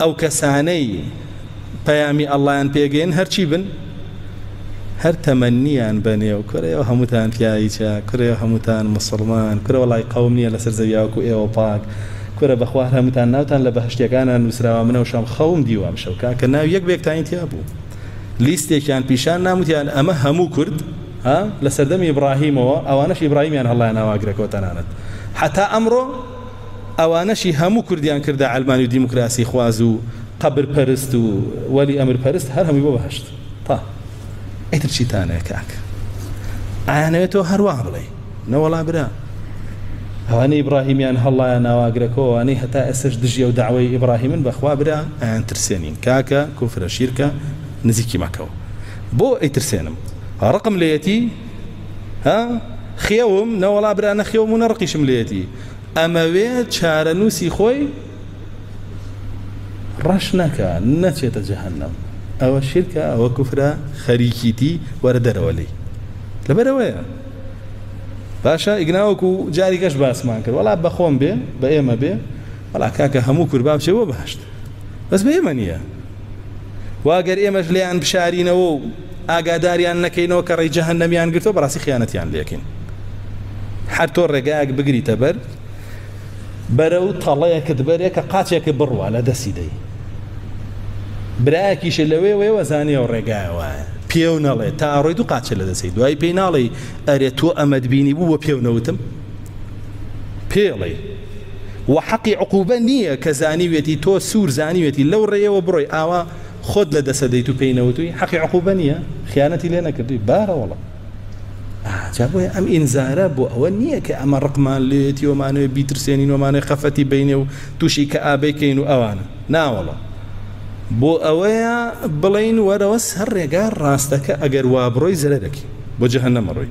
ئەو کەسانەی پەیامی اللەیان پێگەیەن هەرچی بن هەر تەمەنیان بەنێو کورە ئەو هەمووتان پیاویچە کورە ئەو هەمووتان مسلمان کورە وەڵای قەوم نییە لەسەر زەویا وەکو ئێوە پاک کورە بەخوا هەر هەمووتان ناوتان لە بەهەشتیەکانە نووسراوە منە و شەم خەوم دیوە ئەمشەو کاکە ناوی یەک بەیەکتانی تیا بوو لیستێکیان پیشان نام وتیان ئەمە هەموو کورد ها لە سەردەمی ئیبراهیمەوە ئەوانەش ئیبراهیمیان هەڵیان ئاواگرەکەوە تەنانەت حتا ئەمڕۆ ئەوانەشی هەموو کوردیان کردە عەلمانی و دیموکراسی خواز و قەبر پەرست و وەلی ئەمر پەرست هەر هەمووی بۆ بەهەشت تا ئیتر چیتانەیە کاک ئایانەوێت تۆ هەروە بڵێ نەوەڵا برا ئەوانەی ئیبراهیمیان هەڵڵایە ناواگرەکەوانەی هەتا ئێسش دژی و داوای ئیبراهیمن بەخوا برا ئەیان ترسێنین کاکە کوفرە شیرکە نزیکی مەکەوە بۆ ئەیترسێنم ڕقم لەیەتی ها خێوم نەوەڵا برا نەخێوم و نەڕقیشم لێتی ئەمەوێ چارەنووسی خۆی ڕەش نەکە نەچێتە جەهنم ئەوە شرکە ئەوە کوفرە خەریکیتی وەرە دەرەوە لی لەبەرەوەیە باشە ئیگناوەکو جاری گەش باسمان کرد وڵا بەخۆم بێ بە ئێمە بێ وڵا کاکە هەموو کوربا بچێ بۆ باشت بەس بە ئێمە نییە واگەر ئێمەش لێیان بشارینەوە و ئاگاداریان نەکەینەوە کە ڕێی جەهەن نەمیان گرتەوە بەڕاستی خیانەتیان لەکەین هەر تۆ ڕێگایەک بگریتە بەر بەرە و تەڵەیەکت بەرێ کە قاچێکی بڕوە لە دەستی دەی برایەکیش لەوێ وێوە زانانی و ڕێگای وایە پێو نەڵێ تا ڕۆی دوو قاچە لە دەستی دوای پێی ناڵی ئەرێ تۆ ئەمەد بینی بوو بە پێونەوتم پێڵێی وە حەقی عقوبە نیە کە زانیوێتی تۆ سور زانیوێتی لەو ڕێیەوە بڕۆی ئاوا خۆت لە دەسە دەیت و پێی نەوتوی حەقی عقوبە نیە خیانەتی لێ نەکردی بارە وڵە جا بۆیە ئەم ئینزارە بۆ ئەوە نییە کە ئەمە ڕقمان لێتی ومانوێ بیترسێنین ومانێ خەفەتی بینێ و تووشی کە ئابەیکەین و ئەوانە ناوەڵە بۆ ئەوەیە بڵین وەرەوە سەر ڕێگا ڕاستەکە ئەگەر وابڕۆی زەرەرەکی بۆ جەهەنەمە ڕۆی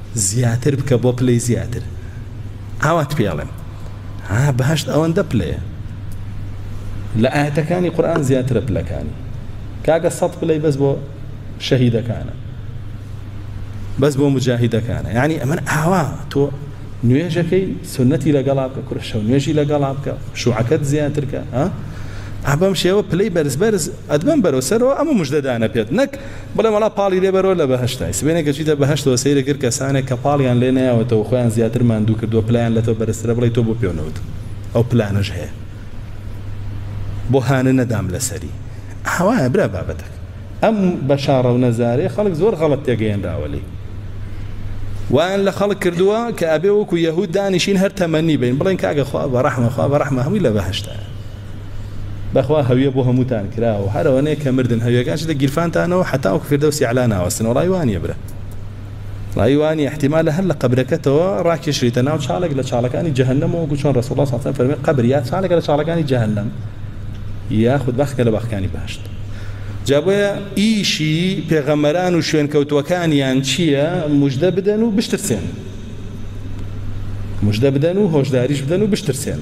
زیاتر بکە بۆ پلەی زیاتر ئاوات پێ ئەڵێم ها بەهشت ئەوەندە پلەیە لە ئاەتەکانی قورآن زیاترە پلەکانی کاکە سەد پلەی بەس بۆ شەهیدەکانە بەس بۆ مجاهیدەکانە یعنی ئەمن ئاوا تۆ نوێژەکەی سنەتی لەگەڵا بکە کورە شەو نوێژی لەگەڵا بکە شوعەکەت زیاترکە ئەبەم شێوە پلەی بەرز بەرز ئەدبم بەرەو سەرەوە ئەمە مژدەدانە پێت نەک بڵێم وەڵا پاڵی لێ بەرەوە لە بەهەشتای سبەینێ کە چویتە بەهەشتەوە سەیرە کرد کەسانێک کە پاڵیان لێ نەیاوەتەوە خۆیان زیاتر ماندوو کردوە پلەیان لە تۆ بەرزترە بڵێی تۆ بۆ پێو نەوت ئەو پلانەش هەیە بۆ هانە نەدام لەسەری ئاوایە برا بابەتەکە ئەم بەشاڕە و نەزارەیە خەڵک زۆر غەڵەت تێگەیەنراوە لێی وایان لە خەڵک کردووە کە ئەبێ وەکو یەهود دانیشین هەر تەمەنی بین بڵێن کاگە خوا بە ڕەحمە خوا بە ڕەحمە هەمووی لە بەهشتە بەخوا هەویە بۆ هەمووتان کراوە هەر ئەوەنەیە کە مردن هەویەکان چیتە گیرفانتانەوە حەتاوەکو فیردەوسی ئەعلا ناوەستن وەڵای وا نییە برا ڕای وا نییە احتیمالە هەر لە قەبرەکەتەوە ڕاکێشریتە ناو چاڵێک لە چاڵەکانی جەهەنەمەوە وەکو چۆن ڕەسوڵ الله صلی الله علیه و سلم فەرمی قەبر یا چاڵێکە لە چاڵەکانی جەهەنەم یاخود بەخکە لە بەخکانی باشت جابۆیە ئیشی پێغەمەران و شوێنکەوتوەکانیان چییە مژدە بدەن و بشترسێن مژدە بدەن و هۆشداریش بدەن و بشترسێن